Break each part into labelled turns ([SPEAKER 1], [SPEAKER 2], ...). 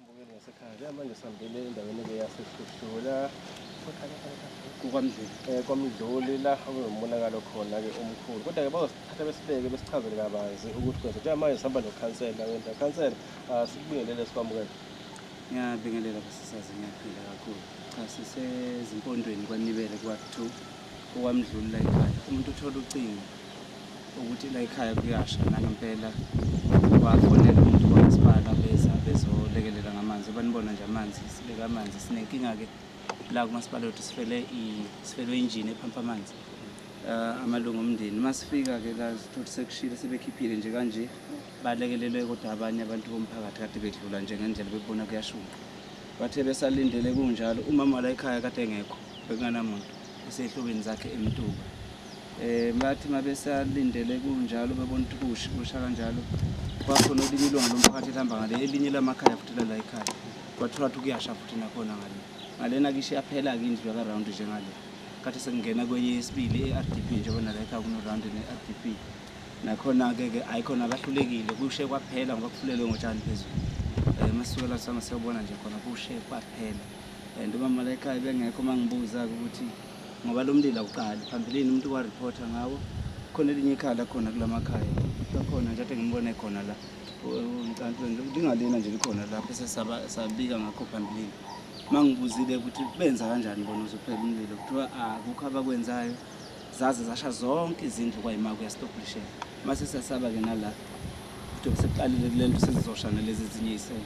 [SPEAKER 1] Mbukeli wasekhaya njengamanje sihambele endaweni-ke yasehluhlula kukwamdluli
[SPEAKER 2] um eh, kwamdluli la
[SPEAKER 1] okunomonakalo khona-ke omkhulu kodwa-ke bazosithatha besibeke besichazele kabanzi ukuthi kwenza njengamanje sihamba nokhansela wenta khansela um sikubingelele sikwamukele ngiyabingelela
[SPEAKER 2] basisazi ngiyaphila kakhulu cha sisezimpondweni kwanibele kwa-two okwamdluli la ekhaya umuntu uthola ucingo ukuthi la ekhaya kuyasha nangempela wafonela umuntu kwamasipala beza bezolekelela ngamanzi banibona nje amanzi sibeka amanzi sinenkinga-ke la kumasipala wethu sifele sifelwe injini ephampa amanzi um amalungu omndeni uma sifika-ke la sithothi sekushile sebekhiphile nje kanje balekelelwe kodwa abanye abantu bomphakathi kade bedlula nje ngendlela bebona kuyashunqa bathe besalindele kunjalo umama la ekhaya kade engekho bekunganamuntu esehlobeni zakhe emtuba eh bathi mabesalindele kunjalo bebona ukuthi kushi kusha kanjalo kwakhona elinye ilunga lomphakathi elihamba ngale elinye lamakhaya futhi lala ekhaya kwathola ukuthi kuyasha futhi nakhona ngale ngalena kishe yaphela-ke indlu yakarawundi njengale khathi sekungena kwenye yesibili e-r d p njengoba nala ekhaya kunorawundi ne-r d p nakhona-ke ke hhayi khona akahlulekile kushe kwaphela ngoba kufulelwe ngotshani phezulu um masisukela sama siyobona nje khona kushe kwaphela and umama layikhaya bengekho uma ngibuza-ke ukuthi ngoba lo mlilo awuqali phambilini umuntu warephotha ngawo khona elinye ikhala khona kula makhaya kakhona nje ade ngimbone khona la umcantweni lingalena nje likhona lapho sesabika ngakho phambilini uma ngibuzile ukuthi benza kanjani bona uzophela umlilo kuthiwa akukho abakwenzayo zaze zasha zonke izindlu kwayima kuyastobhishela mase siyasaba ke nala ukuthi sekuqalile kule nto sezizosha nalezi ezinye isele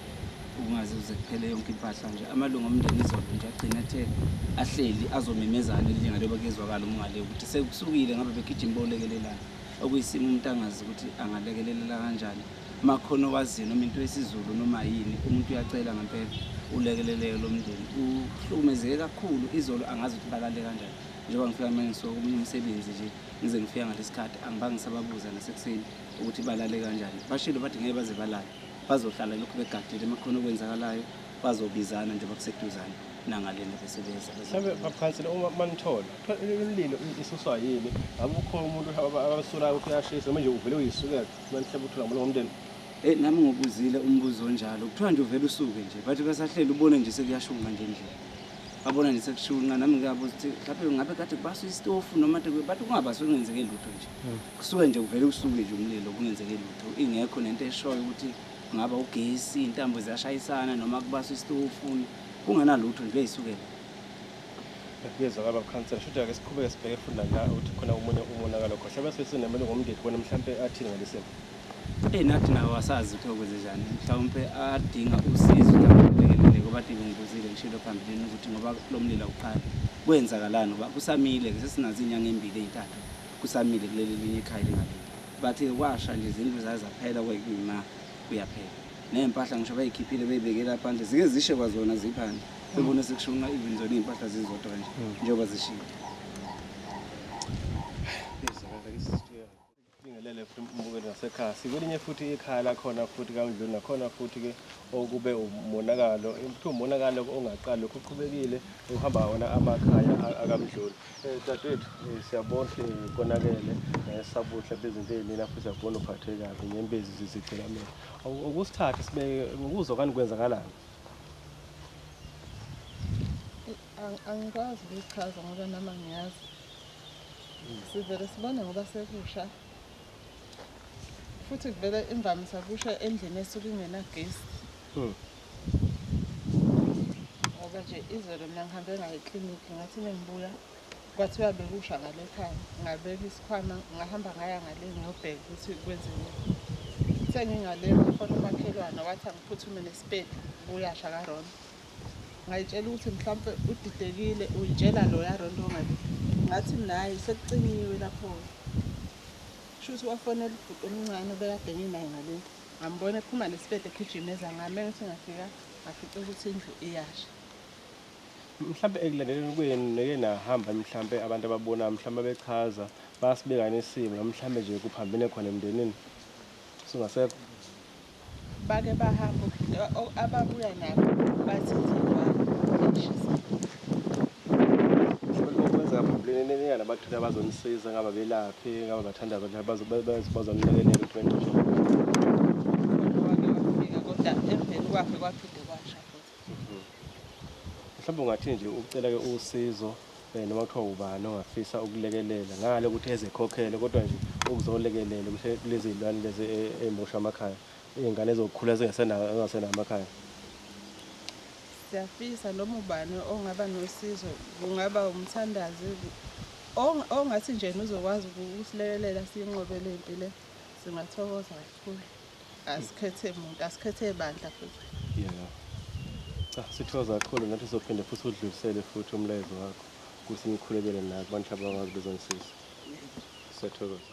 [SPEAKER 2] ukungaze uze kuphele yonke impahla nje amalungu omndeni izolo nje agcina athe ahleli azomemezana elinga leba kezwakala umngale ukuthi sekusukile ngabe begijima bolekelelana okuyisimo umuntu angazi ukuthi angalekelelela kanjani makhona owaziyo noma into yesizulu noma yini umuntu uyacela ngempela ulekeleleke lo mndeni uhlukumezeke kakhulu izolo angazi ukuthi balale kanjani njengoba ngifika manje ngisuka komunye umsebenzi nje ngize ngifika ngalesi khathi angibange ngisababuza nasekuseni ukuthi balale kanjani bashilo bathi ngeke baze balale bazohlala lokhu begadile uma khona okwenzakalayo bazobizana njengoba kuseduzane nangalena besebenza mhlawumbe bakhansela
[SPEAKER 1] uma manithola imlilo isuswa yini ngabe ukhona umuntu abasolayo ukuthi uyashisa noma nje uvele uyisukela manihlela uthula ngomlomo ngomndeni Eh nami ngobuzile
[SPEAKER 2] umbuzo onjalo. Kuthiwa nje uvela usuke nje. Bathi basahlela ubone nje sekuyashunqa nje endlini. abona nje sekushunqa nami ngiyabuza ukuthi mhlawumbe ngabe kade kubaswa isitofu noma kade bathi kungabaswe kungenzeke lutho nje hmm. kusuke nje kuvele usuke nje umlilo kungenzeke lutho ingekho nento eshoyo ukuthi kungaba ugesi intambo ziyashayisana noma kubaswa isitofu kunganalutho nje uyisukela
[SPEAKER 1] kuyezwa baba khansela shuthi ake siqhubeke sibheke funda la ukuthi khona omunye umonakalo khohle bese sinemele ngomndeni bona mhlawumbe athini ngalesimo Eyi nathi
[SPEAKER 2] nawo asazi ukuthi okwenzenjani mhlawumpe adinga usizo lakulekelele ngoba ade ngibuzile ngishilo phambilini ukuthi ngoba lo mlilo awuqali kwenzakalani ngoba kusamile-ke sesinazo iy'nyanga ey'mbili ey'ntathu kusamile kuleli linye ikhaya lingalile bathi kwasha nje izindlu zaye zaphela kwekuyima kuyaphela ney'mpahla ngisho bayikhiphile beyibekela phandle zike zishe kwazona ziphandle bebone sekushunqa even zona iy'mpahla zizodwa nje njengoba zishile
[SPEAKER 1] Sibingelele futhi umbukeli wasekhaya. Sikwelinye futhi ikhaya lakhona futhi kaNdluli nakhona futhi-ke okube umonakalo kuthiwa umonakalo ongaqali lokhu uqhubekile ukuhamba wona amakhaya akamdluli um eh, dadewethu eh, siyabona ukuthi eh, konakele sabuhle bezinto ey'nina futhi siyakubona uphathwe kabi ngembezi zizigcikamele ukusithathe sibeke ngokuzwa kani kwenzakalani
[SPEAKER 3] Angikwazi ukuyichaza ngoba nama ngiyazi. Sivele sibone ngoba sekusha. Futhi kuvele imvamisa kusha endlini esuke ingenagesi. Hmm. Ngoba nje izolo mina ngihambe ngayo eklinikhi ngathi uma ngibuya kwathiwa bekusha ngale khaya. Ngabeka isikhwama ngahamba ngaya ngale ngiyobheka ukuthi kwenziweni. Sengingale ngafona umakhelwane wathi angiphuthume nesipeti kuyasha kaRona. ngayitshela ukuthi mhlawumpe udidekile uyitshela loya ronto ongabi ngathi naye sekucinyiwe lapho kusho ukuthi wafonela ubhuti omncane obekade nginaye ngale ngambona ephuma nesibede egijimeza ngami engithi ngafika ngafica ukuthi indlu iyasha
[SPEAKER 1] mhlawumbe ekulandeleni kwenu neke nahamba mhlawumbe abantu ababona mhlawumbe bechaza basibekane isimo mhlawumbe nje kuphambene khona emndenini singasekho
[SPEAKER 3] Bake bahamba ababuya
[SPEAKER 1] nabo bathi ngenyanga abathile abazonisiza ngaba belaphi ngaba bathandaza bazomlekelela ukuthi benqoshwe kodwa emveni kwakhe kwaphinde kwasha
[SPEAKER 3] futhi
[SPEAKER 1] mhlawumbe ungathini nje ukucela-ke usizo um noma kuthiwa ubani ongafisa ukulekelela ngale ukuthi ezekhokhele kodwa nje ukuzolekelela ukuthi kulezi iy'lwane lezi e- ey'moshwa amakhaya iy'ngane ezokukhula zingasenawo engasenawo amakhaya
[SPEAKER 3] siyafisa noma ubani ongaba nosizo kungaba umthandazi ong- ongathi nje uzokwazi uku- ukusilekelela siyinqobele impi le singathokoza kakhulu asikhethe muntu asikhethe bandla
[SPEAKER 1] futhi yeah cha sithoza kakhulu ngathi sophinde futhi udlulisele futhi umlayezo wakho ukuthi ngikhulekele naye abantu abakwazi bezongisiza siyathokoza